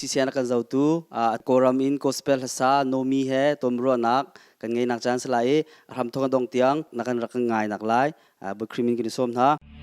CCN a kan zotu Kawlram in Gospel hlasa Nomi he tumruahnak kan ngeinak caan si lai i a hramthawng a dong tiang na kan rak kan ngai nak lai biakrim in kan i sawm hna.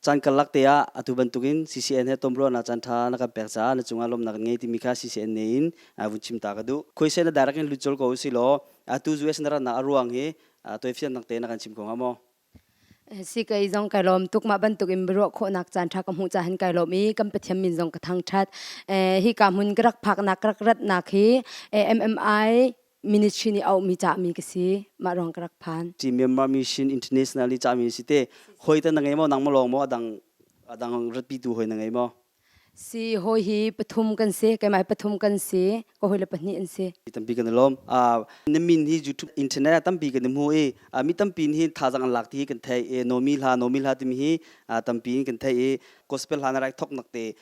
Caan karlak te ah atu bantukin CCN he tumruahnak caan ṭha na kan pek caah na cungah lawmnak kan ngei timi kha CCN ne in vun chim ta ka duh. Khuaisen na direct in lut col ko u si law atu US na ratnak a ruang hi toifiannak te na kan chim ko hnga maw? Sikei zong kai lawm tuk mah bantuk in biaruah khawhnak caan ṭha ka hmuh cahan kai lawm i kan pathiam min zong ka thangṭhat. Hi ka hmun ka rak phaknak ka rak ratnak hi MMI minute shi ni au mi cha mi ka si ma rong ka rak phan ti Myanmar mission internationally cha mi si te hoi ta na ngai mo nang mo long mo adang adang ratpi tu hoi na ngai mo si hoi hi pathum kan si kaimai pathum kan si ko hoi le pahnih an si tampi kan lom a ne min hi youtube internet tampi kan mu e mi tampi hi tha jang lak ti kan thai e nomi hla nomi hla tim hi tampi kan thai e gospel hla na rai thok nak te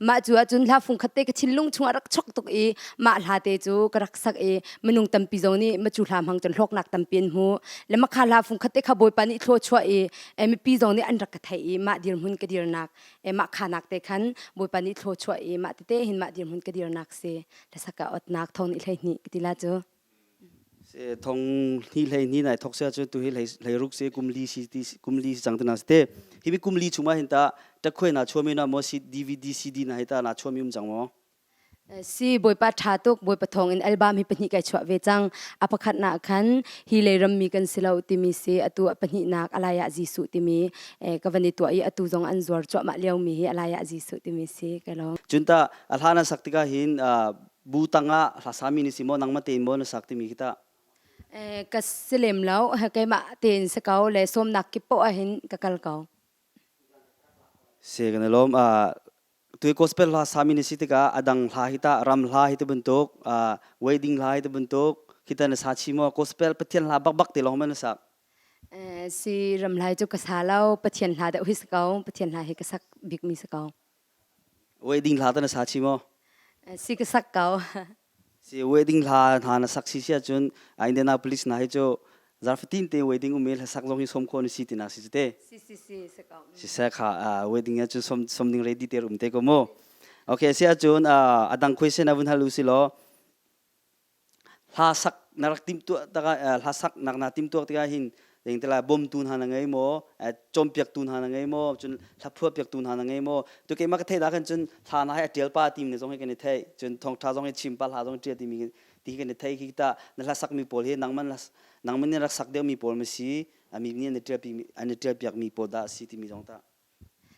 mah cu ahcun hla fung khat te ka thinlung chungah rak chok tuk i mah hla te cu ka rak sak i minung tampi zong nih macu hla hmang cun hlawknak tampi an hmu le makha hla fung khat te kha bawipa nih thlo chuah i e, mipi zong nih an rak ka thei i mah dirhmun ka dirnak e, mah khanak te khan bawipa nih thlo chuah i mah tete hin mah dirhmun ka dirnak si hlasa ka otnak thon i hlei hni ka tila cu Se thong ni hlei ni nai thok sia chu tu hi hlei ruk se kum li si ti kum li si chang tana se hi mi kum li chuma hin ta takhwe na chomi na mo si DVD CD na hi ta na chomi um jang mo si boipa tha tuk boipa thong in album hi pahnih kai chwa ve chang apakhat na khan hi le ram mi kan silo timi se atu pahnih nak alaya jisu timi ka vani tua i atu zong an zuar chwa ma liau mi hi alaya jisu timi se ka lo junta alhana saktika hin bu tangah hlasa mi ni si mo nangma tein mo na sak timi kita ka silem lo keimah tein se ko le somnak kipo ahin ka kal ko se kana lom a tu gospel hla sami ni si tika adang hla hita ram hla hita bentuk wedding hla hita bentuk kita na sa chi mo gospel pathian hla bak bak te long men sak si ram lai chu ka sa lo pathian hla da hui sa ko pathian hla hi ka sak bik mi sa ko Wedding hla ta na sa chi maw? Si ka sak ko. Si wedding hla hna na sak si si ahcun Indianapolis hna hi cu zarfatin te wedding ume hla sak lawng hi som khawh na si tinak si te. Si si si si ko. Si se kha wedding ah cun som som ding ready te um te ko mu. Okay si ahcun a dang question a vun hal u si law hla sak na rak timh tuah tikah hla sak nak na timh tuah tikah hin ding tila bawmtu hna na ngei maw cawmpiak tu hna na ngei maw cun hlaphuah piak tu hna na ngei maw tu keimah ka theih dah khan cun hla na hai atial pa tim ne zong hi kan i theih cun thongtha zong hi chim pa hla zong tia ti mi ti kan i thei khi ta na hla sak mi pawl hi nangman nangman ni rak sak deuh mi pawl ma si ami ni an i tial pi an i tial piak mi pawl da si ti mi zong ta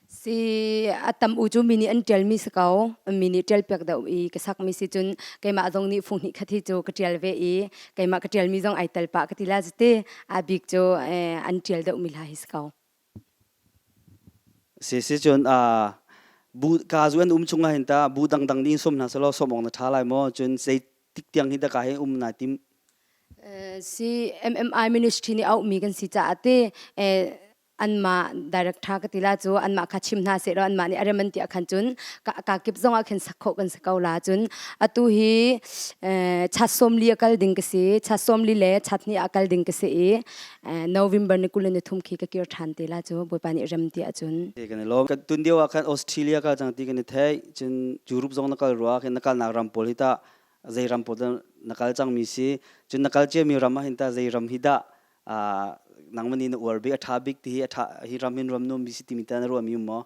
Si a tam u cu mi nih an ṭialmi si ko. Mi nih ṭialpiak deuh i ka sakmi si cun keimah zong nih fung hnih khat hi cu ka ṭial ve i keimah ka ṭialmi zong ai tel pah ka ti la citi. A bik cu an ṭial deuhmi hla hi si ko. Si sicun bu kazu an um chung ahhin tah bu dangdang nih in sawm hna selaw sawm awk na ṭha lai maw? Cun zeitik tiang hi dah ka hei um naa tim? Si MMI ministry nih auhmi kan si caah ti anmah director ka tila cu anmah kha chim hna sehlaw anmah nih a rem an tiah khan cun ka, ka kip zongah khin sak khawh kan si ko la cun atu hi eh, cha somli a kal ding ka si cha somli le cha hnih a kal ding ka si i eh, november ni kul ni thum khi ka kir than te la cu bawipa nih rem tiah cun kan i lom kan tun dio ah khan australia ka chang ti kan i thei cun europe zong na kal ruwa khin na kal nak ram pawl hi ta zei ram pawl na kal chang mi si cun na kal cia mi ram ah hin ta zei ram hi dah nangmani na uar bi a tha bik ti hi a tha hi ram in ram nu mi si ti mi ta na ro mi mo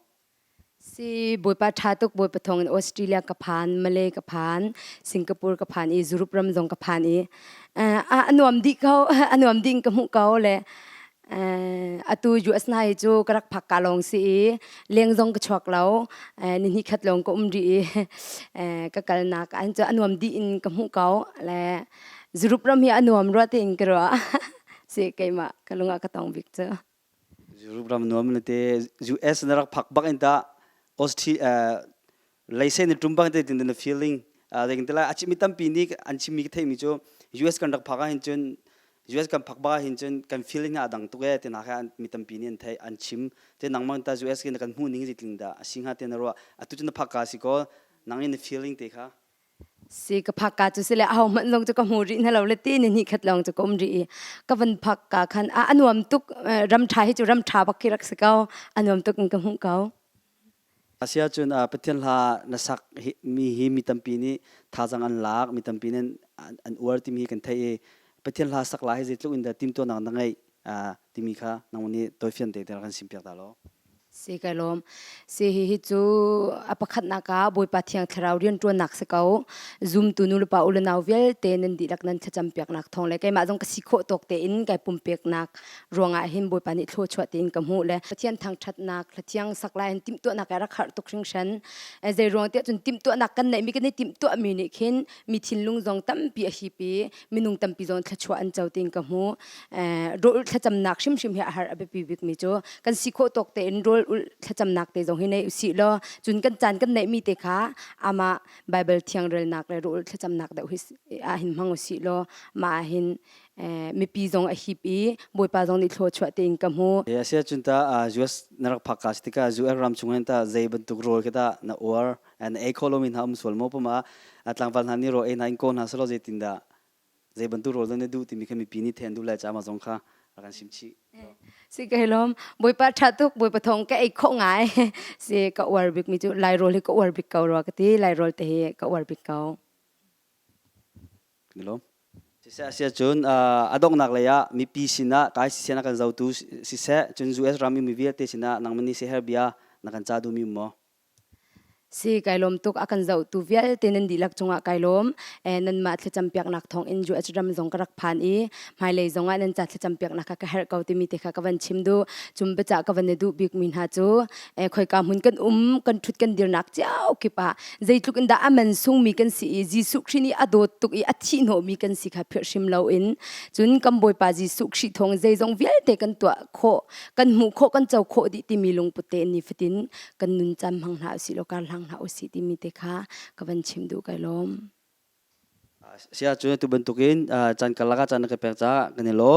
si boipa tha tuk boi pathong in australia ka phan malay ka phan singapore ka phan i zurup ram zong ka phan i anuam di ko anuam ding ka mu ko le atu US nai chu karak phak ka long si i leng zong ka chuak lo ni ni khat long ko um ri i ka kal na ka an chu anuam di in ka mu ko le Zurup ram hi a nuam rua tiin ka ruah. Si keimah ka lungah ka tong bik cu. Zurup ram nuam na te US na rak phak bak in ta Austria leisen tum bang te tin na feeling leng te la a chimi tampi ni an chimi ka theimi cu US kan rak phak ah hin cun US kan phak bak ah hin cun kan feeling a dang tuk e tina ka mi tampi ni an thei an chim te nang mang ta US ke na kan hmu ning zi tling da a singa te na ro a tu na phak ka si ko nang in na feeling te kha Si ka phak ka cu si le a hohmanh zong cu ka hmu rih na lo le ti ni ni khat lawng cu ka um rih i ka van phak ka khan a anuam tuk ram ṭha hi cu ram ṭha bak khi rak si ko anuam tuk in ka hmuh ko asiahcun Pathian hla na sak mi hi mi tampi nih thazang an lak mi tampi nih an uar timi hi kan theih i Pathian hla sak la hi zeitluk in dah timhtuahnak na ngeih timi kha nangmah nih toifian te kan sim piak ta law si kai lawm si hi hi cu a pakhatnak ah bawipa thiang thlarau riantuannak si ko zumtu nu le pa u le nau vialte nan dihlak nan thlacam piaknak thawng le keimah zong ka si khawh tawk te in kai pumpeknak ruangah hin bawipa nih thlo chuah tiin ka hmuh le pathian thangthatnak thla thiang saklai in timtuahnak ai rak harh tuk hringhran zei ruang tiah cun timtuahnak kan neihmi kan i timtuahmi nih khin mi thinlung zong tampi a hipi minung tampi zawn thluachuah an co ting ka hmu rol thlacamnak hrimhrim hi a har a biapi bikmi cu kan si khawh tawk tein rol thlacamnak te zong hi nei usi law cun kan caan kan neihmi te kha ama bible thiangrelnak le rol thlacamnak deuh hi a hin hmang usi law ma hin mipi zong a hip i bawipa zong nih thlo chuah tein ka hmu a si cun ta US na rak phak ka tikah US ram chung hin ta zei bantuk rol khi ta na uar an ei kho lomi hna um sual mo pama a tlangval hna nih ro ei hna in ko hna selaw zeitindah zei bantuk rawl nan duh timi kha mipi nih then duh lai ca ma zong kha rak an sim chih si ka helom boipa tha tuk boipa thong ka ei kho ngai si ka uar bik mi cu lai roll hi ka uar bik ko ro ka ti lai roll te hi ka uar bik ko Gelom siseh asia cun adongnak lei ah mipi sinah kai siseh na kan zotu siseh cun US ram mi vialte sinah nang mani se her bia na kan cha du mi mo Si kai lawm tuk a kan zohtu vialte nan dihlak cungah kai lawm. Nanmah thlacam piaknak thawngin USram zong ka rak phan i hmailei zongah nan ca thlacam piaknak kha ka herh ko timi te kha ka van chim duh. Cum biacah ka van i duh bikmi hna cu khoika hmun kan um, kan ṭhut kan dirnak cio kip ah zeitluk in dah a mansungmi kan si i Jesuh Khrih nih a dawt tuk i a thihhnawhmi kan si kha philh hrim loin cun kan Bawipa Jesuh Khrih thawng zeizong vialte kan tuah khawh, kan hmuh khawh, kan co khawh dih timi lungput te in nifatin kan nun cam hmang hna usih law kar hlang hna usih timi te kha ka van chim duh kai lawm. Sia cu tu bantukin chan karlak ah chan na ka pek caah kan i lawm.